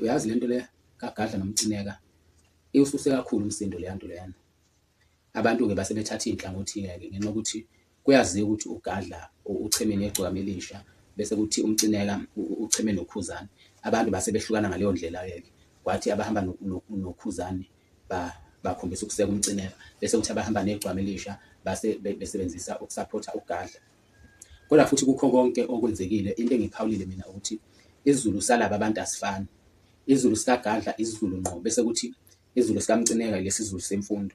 uyazi lento le kagadla nomcineka iwususe kakhulu umsindo leya nto leyana abantu-ke base bethatha iy'nhlangothi-ke ke ngenxa yokuthi kuyaziwa ukuthi ugadla ucheme negcokama elisha bese kuthi umcineka ucheme nokhuzane abantu base behlukana ngaleyo ndlela-ke ke kwathi abahamba nokhuzane bakhombisa ukuseka umcineka bese kuthi abahamba negcwama elisha base besebenzisa ukusaphotha ugadla. Kodwa futhi kukho konke okwenzekile into engiyiphawulile mina ukuthi isizulu salaba abantu asifani. Izulu sikaGadla isizulu ngqo bese kuthi izulu sikaMcineka lesi zulu semfundo.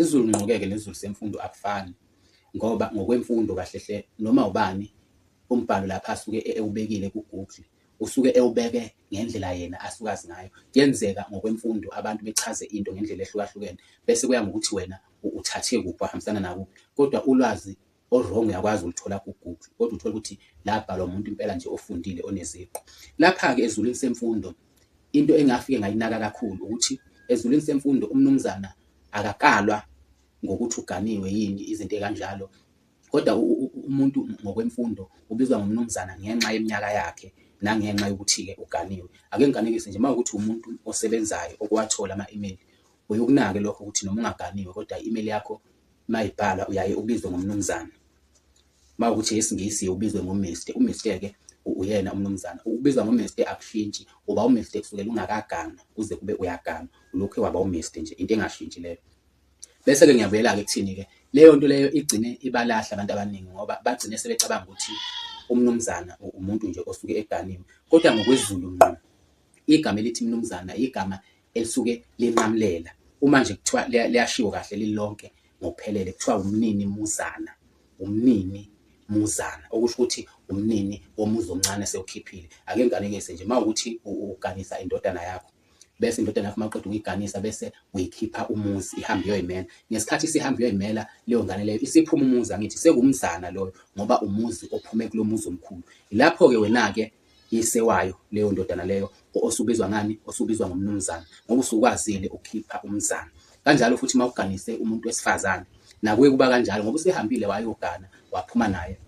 Izulu ngqokeke nezulu semfundo akufani ngoba ngokwemfundo kahle hle noma ubani umbhalo lapha asuke e-, ewubekile ku-Google usuke ewubeke ngendlela yena asuke azi ngayo. Kuyenzeka ngokwemfundo abantu bechaze into ngendlela ehlukahlukene bese kuya ngokuthi wena uthathe kuphi wahambisana nakuphi kodwa ulwazi O wrong uyakwazi ukulithola ku Google kodwa uthole ukuthi labhalwa umuntu impela nje ofundile oneziqu. Lapha ke ezulwini semfundo into engafike ngayinaka kakhulu ukuthi ezulwini semfundo umnumzana akakalwa ngokuthi uganiwe yini izinto ekanjalo kodwa umuntu ngokwemfundo ubizwa ngomnumzana ngenxa yeminyaka yakhe nangenxa yokuthi-ke uganiwe ake ngiganekise nje uma ukuthi umuntu osebenzayo okuwathola ama-email uyokunake lokho ukuthi noma ungaganiwe kodwa i-email yakho Mayibhala uyaye ubizwe ngomnumzane. Mawukuthi yesingisi uye ubizwe ngo Mister. U Mister ke uyena umnumzana. Ukubizwa ngo Mister akushintshi. Uba u Mister kusukela ungakaganwa kuze kube uyaganwa. Ulokhu waba u Mister nje. Into engashintshi leyo. Bese ke ngiyabuyela ke kuthini ke. Leyo nto leyo igcine ibalahla abantu abaningi ngoba bagcine sebecabanga ukuthi umnumzana umuntu nje osuke eganiwe. Kodwa ngokwezulu ngqo igama elithi mnumzana igama elisuke linqamulela uma nje kuthiwa liyashiwo kahle lilonke ngokuphelele kuthiwa umnini muzana umnini muzana okusho ukuthi umnini womuzi omncane sewukhiphile ake ngiganekise nje uma ukuthi uganisa indodana yakho bese indodana yakho maqeda ukuyiganisa bese uyikhipha umuzi ihamba iyoyimela ngesikhathi sihamba iyoyimela leyo ngane leyo isiphuma umuzi angithi sekumzana loyo ngoba umuzi ophume kulo muzi omkhulu lapho-ke wena-ke Yise wayo leyo ndodana leyo osubizwa ngani osubizwa ngomnumzana ngoba usukwazile ukukhipha umzana kanjalo futhi uma uganise umuntu wesifazane nakuye kuba kanjalo ngoba usehambile wayogana waphuma naye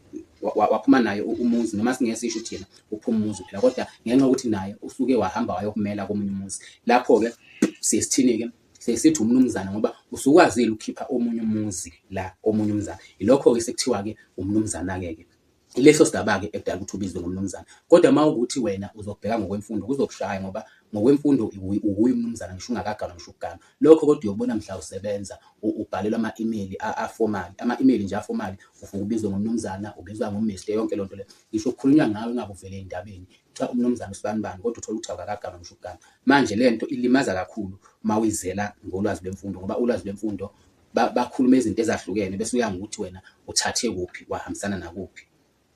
waphuma naye umuzi noma singeke sisho ukuthi yena uphuma umuzi phela kodwa ngenxa yokuthi naye usuke wahamba wayokumela komunye umuzi lapho-ke sesithini-ke sesithi umnumzana ngoba usukwazile ukukhipha omunye umuzi la komunye umzana yilokho-ke sekuthiwa-ke umnumzana-ke-ke Ileso sigaba-ke ekudala ukuthi ubizwe ngomnumzane. Kodwa uma ukuthi wena uzobheka ngokwemfundo kuzokushaya ngoba ngokwemfundo uwuye umnumzane ngisho ungakaganwa ngisho ukuganwa. Lokho kodwa uyokubona mhla usebenza ubhalelwa ama-imeyili afomali. Ama-imeyili nje afomali uvuke ubizwe ngomnumzana, ubizwa ngoMister yonke leyo nto leyo. Ngisho kukhulunywa ngawe ngabe uvele ey'ndabeni kuthiwa umnumzane usibanibani kodwa uthole ukuthi awukakaganwa ngisho ukuganwa. Manje le nto ilimaza kakhulu uma uyizela ngolwazi lwemfundo ngoba ulwazi lwemfundo bakhulume izinto ezahlukene bese uya ngokuthi wena uthathe kuphi wahambisana nakuphi.